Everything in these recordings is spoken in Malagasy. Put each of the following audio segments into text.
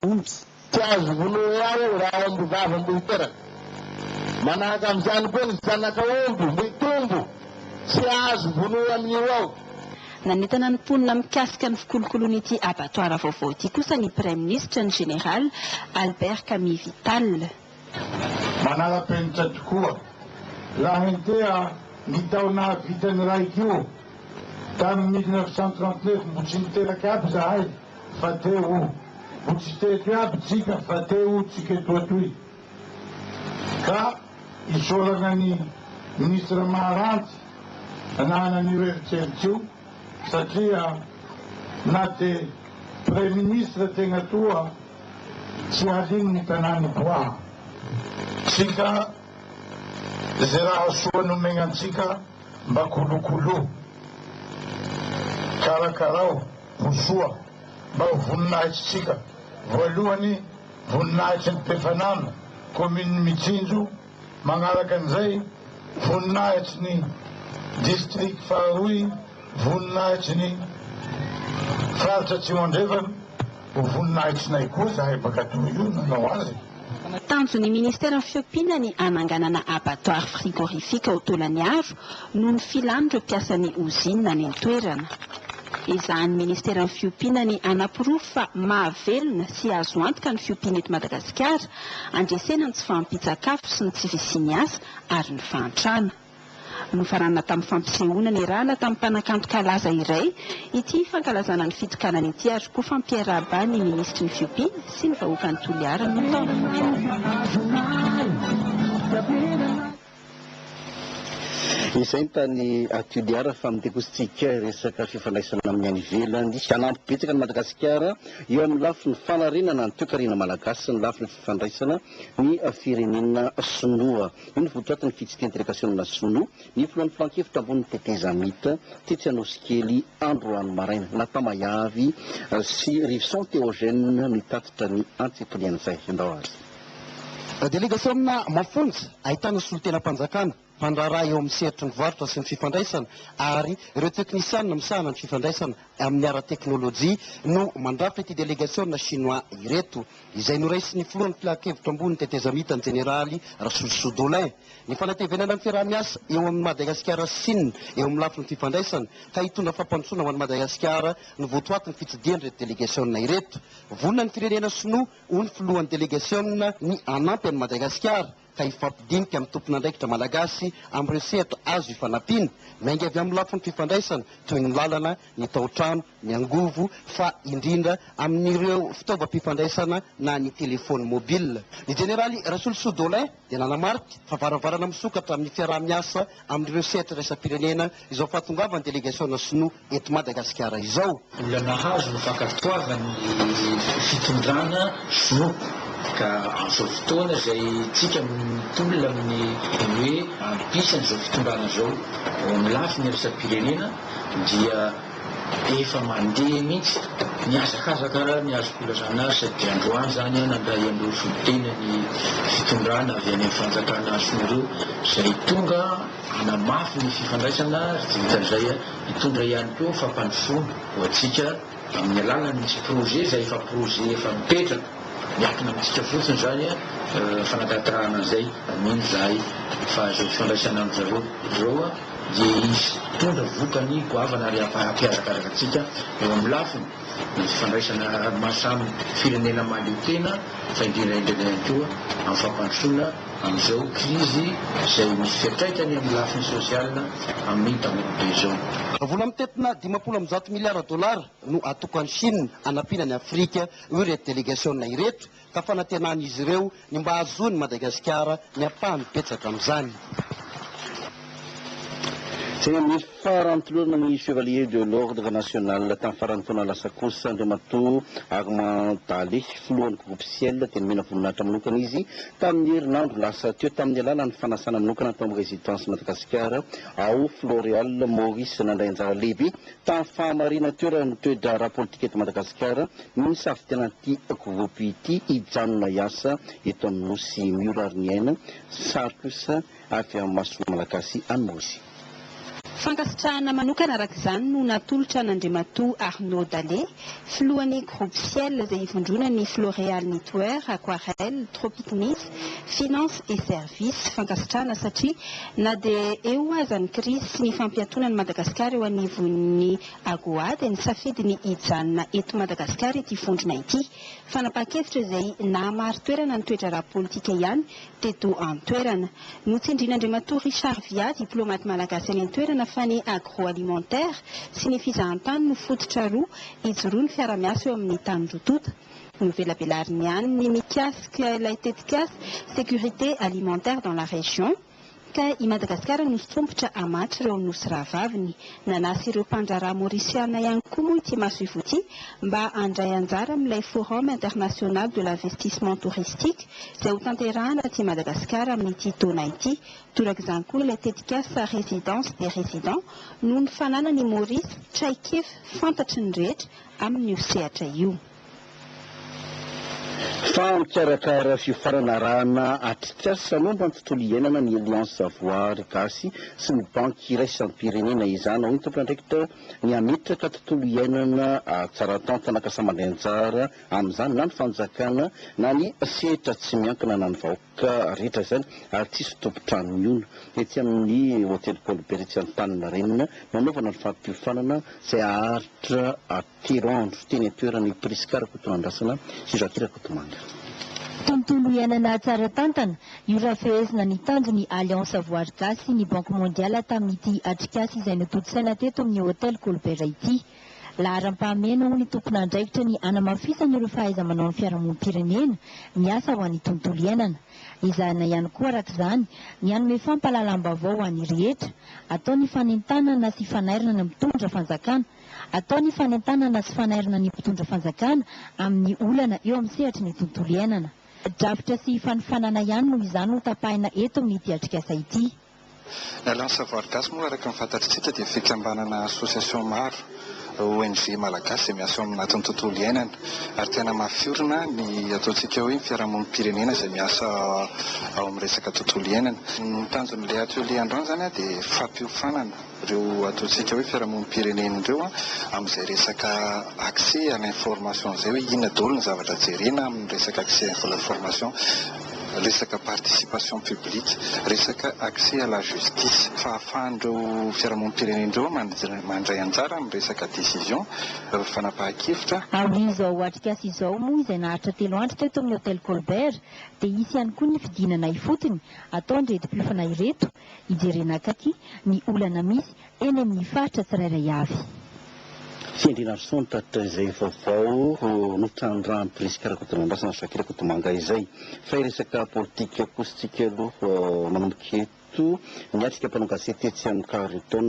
Ontsy, tsy azo vonoy ao raha omby vavy mboy teraka. Manahaka amin'izany koa ny zanaka omby mboy tombo, tsy azo vonoy amin'io ao. Nanentana ny mponina mikasika ny fikolokoloan'ity abattoir vaovao ity kosa ny Praiminisitra, ny Général Albert Kamivital. Manara-penitra tokoa. Raha hentea ny taona vita ny raiko tamin'ny mille neuf cent trente neuf mbo tsy niteraka aby zahay fa te ho mbo tsy teto aby tsika fa te ho tsika etoa toy ka isaorana ny ministra Maharanty nanana an'io eritreritr io Satria na dia praiminisitra tegna toa tsy alin ny tanàny koa tsika ze raha soa nomegna antsika mba kolokolo karakarao ho soa mba ho voninahitry tsika voalohany voninahitry ny mpefanana commune mitsinjo Manaraka an'izay, voninahitry ny District faharoa i Voninahitry ny Faritra Atsimo Andrefana. Ho voninahitrinay koa izahay mpankatò io nanao azy. Tanjon'ny Ministeran'ny Fiompiana ny hananganana abattoir frigorifique ao Tolaniaro noho ny filan'ireo mpiasan'ny ozinina any an-toerana. Ezahan'ny Ministeran'ny Fiompiana ny hanaporofo fa mahavelona sy azo antoka ny fiompiana eto Madagasikara Handresena ny tsy fahampian-tsakafo sy ny tsy fisian'ny asa ary ny fahantrana. Nofaranana tamin'ny fampisehoana niarahana tamin'ny mpanakanto kalaza iray ity fankalazana ny fitokanana ity ary koa fampiarahabà ny minisitry ny fiompiana sy ny vahoakan'i Toliara no tao. Izay ny tany Toliara fa mandeha kosa tsika resaka fifandraisana amin'ny any ivelany. Hanampy betsaka an'i Madagasikara eo amin'ny lafiny fanarenana ny toekarena malagasy sy ny lafiny fifandraisana ny firenena sinoa. Io no votoatin'ny fitsidihan'ny delegasiona sinoa ny filohan'ny filankevitra ambonin'ny tetezamita tetsy Anosikely androany maraina. Natamayavi sy Rivson Theogene no nitatitra ny antsipiriany izay. Andao ary. Delegasiona mafonja ahitana solontenam-panjakana, mpandraharaha eo amin'ny sehatry ny varotra sy ny fifandraisana ary ireo teknisianina misahana ny fifandraisana amin'ny ara-teknolojia no mandrafitra ity delegasiona Shinoa ireto, izay noraisin'ny filohan'ny Filan-kevitra Ambony Tetezamita ny Jeneraly Rasoziso Dolin. Ny fanatevenana ny fiaraha-miasa eo amin'i Madagasikara sy Sina eo amin'ny lafiny fifandraisana ka hitondra fampandrosoana ho an'i Madagasikara no votoatin'ny fitsidihan'ireto delegasiona ireto. Vonona ny firenena Sinoa ho ny filohan'ny delegasiona ny hanampy an'i Madagasikara ka hifampidinika amin'ny tompon'andraikitra malagasy amin'ireo sehatra azo ifanampiana, miainga avy amin'ny lafiny fifandraisana toy ny lalana, ny tao-trano, ny angovo fa indrindra amin'ireo fitaovam-pifandraisana na ny telefaony mobile. Ny jeneraly Rasolosoa Dolin, dia nanamarika fa varavarana misokatra amin'ny fiaraha-miasa amin'ireo sehatra iraisam-pirenena izao fahatongavan'ny delegasiona sinoa eto Madagasikara izao. Mbola nahazo ny fankatoavany ny fitondrana sinoa ka amin'izao fotoana izay isika mitolona amin'ny hoe ampisany izao fitondrana izao ao amin'ny lafiny iraisam-pirenena dia Efa mandeha mihitsy. Nihazakazaka raha ny azoko ilazana azy satria androany izany aho nandray an'ireo solontenan'ny fitondrana avy any amin'ny fanjakana azy sy ny ireo izay tonga hanamafy ny fifandraisana ary tsy vitan'izay aho hitondra ihany koa fampandrosoana ho antsika amin'ny alalan'ny misy projet izay efa projet efa mipetraka miankina amintsika fotsiny izany fanatanterahana an'izay mino izahay fa izao fifandraisana amin-dry zareo izao dia hitondra vokany goavana ary hampihazakazaka antsika eo amin'ny lafiny ny fifandraisana maha samy firenena mahaleo tena fa indrindra indrindra ihany koa amin'ny fampandrosoana amin'izao krizy izay misy fiantraikany amin'ny lafiny sosiala amin'ny tanora be izao. Vola mitentina dimampolo amby zato miliara dolara no atokan'i Chine hanampiana an'i Afrika, hoy ireto delegasiona ireto. ka fanantenan'izy ireo ny mba hahazoan'i Madagasikara ny ampahany betsaka amin'izany. Teny amin'ny faran'tolorana ny Chevalier de l'Ordre National tamin'ny faran'ny taona lasa kosa Andriamatoa Armand Daly, filohan'ny Groupe Ciel, dia nomena voninahitra manokana izy tamin'ny herinandro lasa teo tamin'ny alalan'ny fanasana manokana tao amin'ny Résidence Madagascar ao Floréal Maurice nandray anjara lehibe Tamin'ny fahamarinan-toerana ny toe-draharaha politika eto Madagasikara, mino sahy fa tena ity Akovopo ity hijanona hiasa eto amin'ny Nosy Miora ary ny aina sary kosa avy amin'ny mason'ny Malagasy an'Osy. Fankasitrahana manokana araka izany no natolotra an'Andriamatoa Arnaud Dale, Filohan'ny Groupe Ciel izay ivondrona ny Floreal Knitwear, Aquarelle, Tropic Nice, Finance et Services. Fankasitrahana satria na dia eo aza ny krizy sy ny fampiatoana an'i Madagasikara eo anivon'ny Agoa dia nisafidy ny hijanona eto Madagasikara ity vondrona ity. Fanapahan-kevitra izay nahamari-toerana ny toe-draharaha politika ihany teto an-toerana. Notsindrian'Andriamatoa Richard Via, diplaomaty malagasy any an-toerana fa ny agroalimentaire sy ny fizahantany no fototra roa ijoroan'ny fiarahamiasa eo amin'ny tany roa tonta. Novelabelariny ihany ny mikasika ilay tetikasa Sécurité alimentaire dans la région, Ka i Madagasikara no sompitra amatr ireo nosy rahavaviny. Nanasa ireo mpandraharaha Maurisiana ihany koa moa ity masoivoho ity mba handray anjara amin'ilay Forum International de l'Investissement Touristique izay ho tanterahana aty Madagasikara amin'ity taona ity. Torak'izany koa ilay tetikasa Résidence des Résidents noho ny fananany i Maurice traik'ef fantatry ny rehetra amin'io sehatra io. Fa mikarakara fiofanana arahana atrikasa momba ny tontolo iainana ny Alliance Voary Gasy sy ny Banky Iraisam-pirenena izany. Hoy ny tompon'andraikitra, ny hametraka tontolo iainana tsara tantana ka samy mandray anjara amin'izany na ny fanjakana na ny sehatra tsy miankina na ny vahoaka rehetra izany ary tsy hisy tompon-trano mihono. Etsy amin'ny Hotely Paul Bert etsy Antaninarenina no hanaovana ny fampiofanana izay haharitra Telo andro teny an-toerana i Prisca Rakotonandrasana sy Jackie Rakotomanga. Tontolo iainana tsara tantana, io raha fehezina ny tanjon'ny Alliance Voary Gasy sy ny Banque Mondiale tamin'ity atrikasa izay notontosaina teto amin'ny Hôtel Colbert ity. Laharam-pahamehana ho ny tompon'andraikitra ny hanamafisana ireo fahaiza-manaon'ny fiarahamonim-pirenena miasa ho an'ny tontolo iainana. Ezahina ihany koa araka izany ny hanome fampahalalam-baovao ho an'ny rehetra. Atao ny fanentanana sy fanairana ny mpitondra fanjakana. Atao ny fanentanana sy fanairana ny mpitondra fanjakana amin'ny olana eo amin'ny sehatry ny tontolo iainana. Drafitra sy fanofanana ihany noho izany ho tapahina eto amin'ity atrikasa ity. Ny Alliance Savoir Gasy moa araka ny fantatritsika dia fikambanana association maro, ONG, malagasy izay miasa eo amin'ny natin'ny tontolo iainana ary te hanamafy orina ny ataontsika hoe ny fiarahamonim-pirenena izay miasa ao amin'ny resaka tontolo iainana. Ny tanjon'ilay atelier androany izany dia fampiofanana. ireo ataontsika hoe fiarahamonim-pirenena ireo amin'izay resaka accès à l'information izay hoe inona daholo ny zavatra jerena amin'ny resaka accès à l'information, resaka participation publique, resaka accès à la justice. Fahafahan'ireo fiarahamonim-pirenena ireo mandray anjara amin'ny resaka décision, fanapahan-kevitra. Aorian'izao atrikasa izao moa izay naharitra telo andro teto amin'ny Hotel Colbert dia hisy ihany koa ny fidinana ifotony ataon'ireto mpiofana ireto Hijerena akaiky ny olana misy eny amin'ny faritra tsirairay avy. Ity andriana Rason tatitra izay vaovao notrandrahan'i Prisca Rakotonandrasana Jacques Rakotomanga izay. Fa hiresaka politika kosa tsika aloha manomboka eto. Niatrika mpanao gazety tetsy amin'ny Carlton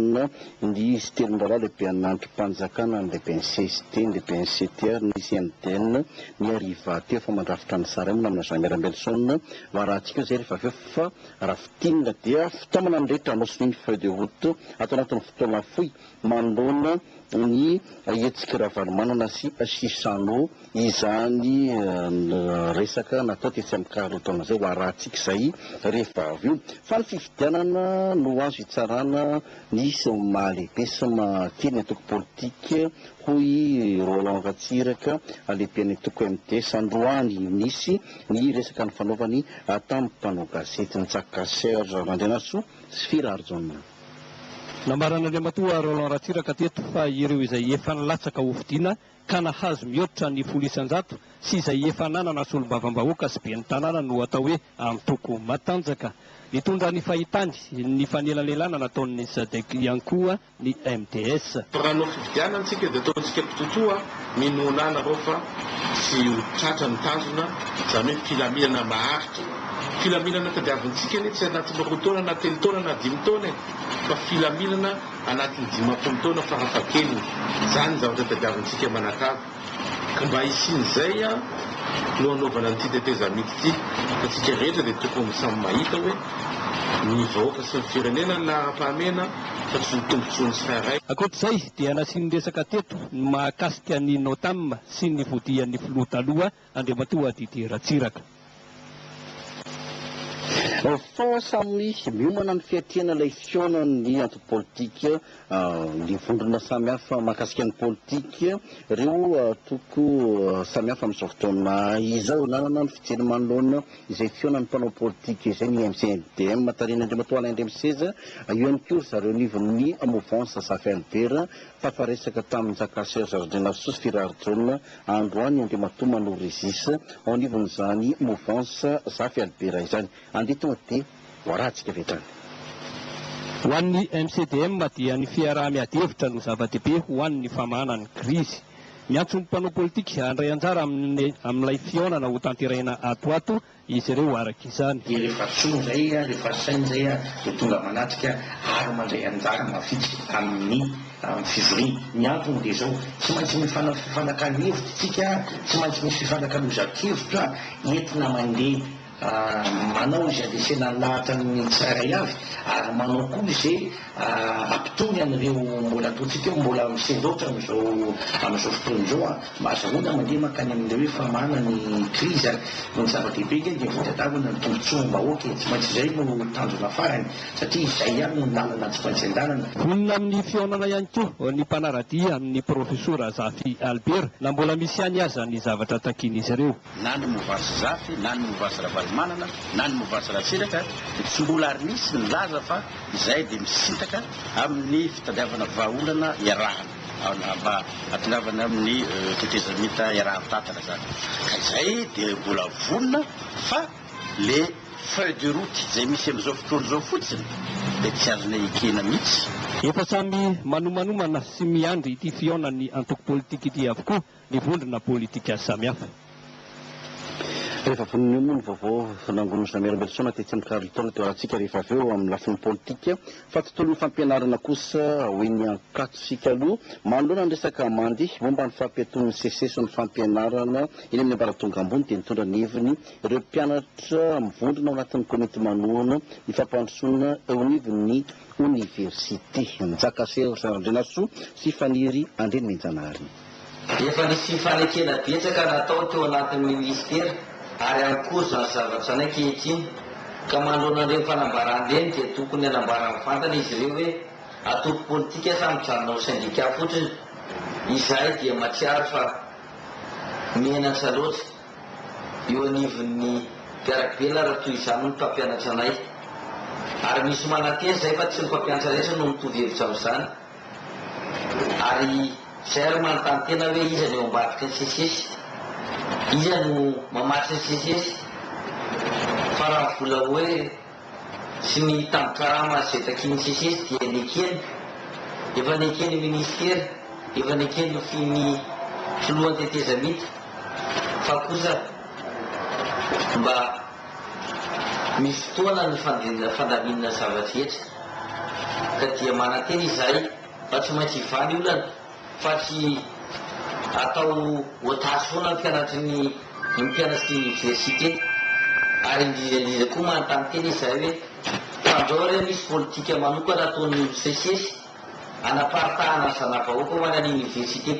ny izy telo mirahalahy lehibe an'ny andrim-panjakana, ny lehiben'ny cst, ny lehiben'ny cte ary ny CNDN ny hariva teo fa mandrafitra ny sary aminy namana Jean Miara Ambelison. Varahantsika eo izay rehefa avy eo fa Raha fintinina dia fitaomana ny rehetra hanao sonia ny feuille de route ato anatin'ny fotoana fohy manoloana ny hetsik'i Ravalomanana sy Chissano izany resaka natao tetsy amin'ny car roa taona izay ho arahantsika izay rehefa avy io fa ny fifidianana no azo hitsarana ny mahalehibe sy mahakely ny antoko politika hoy i Roland Ratsiraka lehiben'ny antoko MDS androany. Nisy Ny resaka nifanaovany tamin'ny mpanao gazety Ntsaka Serge Randrianarisoa sy Fira Harijaona. Nambaran'Andriamatoa Roland Ratsiraka teto fa ireo izay efa nilatsaka hofidiana ka nahazo mihoatra ny folo isan-jato sy izay efa nanana solombavambahoaka sy ben'ny tanàna no atao hoe antoko matanjaka. Nitondra ny fahitany ny fanelanelana nataon'ny Sadec ihany koa ny MDS. Fa raha hanao fifidianana tsika dia ataontsika mpitotoa ny nolanareo fa tsy ho tratra ny tanjona izany hoe filaminana maharitra. Filaminana tadiavintsika anie tsy anatin'ny roa taona na telo taona na dimy taona e! Fa filaminana anatin'ny dimampolo taona farafahakeliny. Izany ny zavatra tadiavintsika manakava. Ka mba hisian'izay no hanaovana an'ity tetezamita ity, fa tsika rehetra dia tokony samy mahita hoe ny vahoaka sy ny firenena no laharam-pahamehana fa tsy ny tombotsoan'ny tsirairay. Ankoatr'izay dia nasiany resaka teto ny mahakasika ny Notam sy ny fodian'ny filoha taloha Andriamatoa Didier Ratsiraka. Fort samy miomana ny fiatrehana ilay fihaonan'ny antoko politika, ny vondrona samy hafa mahakasika ny politika, ireo antoko samy hafa amin'izao fotoana izao nanana ny fijeriny manoloana izay fihaonan'ny mpanao politika izay ny MCNDM tarihin'Andriamatoa Alain Andriamiseza, eo ihany koa ry zareo anivon'ny movansa Zafy Albert tafaresaka tamin'i Njakasiserge Randrianasoa sy Firary John Androany Andriamatoa Mano Régis ao anivon'izany mouvance Zafy Albera izany. Andeha tonga dia voarantsika avy hatrany. Ho an'ny MCDM dia ny fiaraha-miadihevitra no zava-dehibe ho an'ny famahana ny krizy. Miantso ny mpanao politika handray anjara amin'ilay fihaonana hotanterahina ato ho ato izy ireo araka izany. Dia rehefa soa indray, rehefa saina indray dia tonga manatrika ary mandray anjara mavitrika amin'ny fivoriana. Ny antony dia izao, tsy maintsy mifanao fifanakalo hevitra isika, tsy maintsy misy fifanakalozan-kevitra entina mandeha manao izay andresena ny lahatra ny tsirairay avy ary manao koa izay hampitony an'ireo mbola ataontsika hoe mbola misendaotra amin'izao fotoana izao. Mazahoana mandeha mankany amin'ilay hoe famahana ny krizy ary noho ny zava-dehibe ange dia fitadiavana ny tombontsoam-bahoaka e! Tsy maintsy izay no tanjona farany satria izay ihany no lalana tsy maintsy andehanana. Vonona amin'ny fihaonana ihany koa ny mpanara-dia amin'ny Profesora Zafy Albert na mbola misy ihany aza ny zavatra takian'izy ireo. na ny Movas Zafy, na ny Movas Ravalomanana, na ny Movas Ratsiraka dia tsy mbola ary nisy nilaza fa izahay dia misintaka amin'ny fitadiavana vahaolana iarahana mba hatongavana amin'ny tetezamita iarahan-tantana izany ka izay dia mbola vonona fa le feuille de route izay misy amin'izao fotoana izao fotsiny dia tsy azonay ekena mihitsy. Efa samy manomanomana sy miandry ity fihaonan'ny antoko politika ity avokoa ny vondrona politika samihafa. Rehefa vonona eo moa ny vaovao nangonin'i Jamel Mbelosaona tetsy amin'ny Carlton teo Alatsika rehefa avy eo amin'ny lafiny politika fa tontolon'ny fampianarana kosa hoy ny Ankatso isika aloha manoloana ny resaka mandeha momba ny fampiatoan'ny Seces ny fampianarana eny amin'ny ambaratonga ambony dia nitondra ny heviny ireo mpianatra mivondrona ao anatin'ny komity manohana ny fampandrosoana eo anivon'ny oniversite Njakasera Randrianasoa sy Faniry Andrianenjanahary. Efa nisy fifanekena betsaka natao teo anatin'ny minisitera ary ihany koa izany zavatra izany ankehitriny ka manoloana ireny fanambarana ireny dia tokony hanambara mivantana izy ireo hoe antoko politika sa mijanona ho sendika fotsiny? Izahay dia mahatsiaro fa menatra loatra eo anivon'ny mpiara-belona raha toy izany ny mpampianatra anay ary misy manantena izay fa tsy ny mpampianatra rehetra no mitovy hevitra amin'izany. Ary izay ary manontany tena hoe iza no eo ambadiky ny sesesy? Iza no mamatsy ny sesesy? Fa raha vola hoe sy ny tambin-karama izay takian'ny sesesy dia nekeny, efa neken'ny minisitera, efa neken'ny nofin'ny filohan'ny tetezamita fa kosa mba ny fotoana ny fandaminana zava-drehetra, ka dia manantena izahay fa tsy maintsy hivaly olana fa tsy atao otage foana ny mpianatry ny ny mpianatry ny oniversite, ary indrindra indrindra koa manontany tena izahay hoe fandrao re misy politika manokana ataon'ny olon-tsesisesy hanaparitahana ny zana-bahoaka ho any an'ny oniversite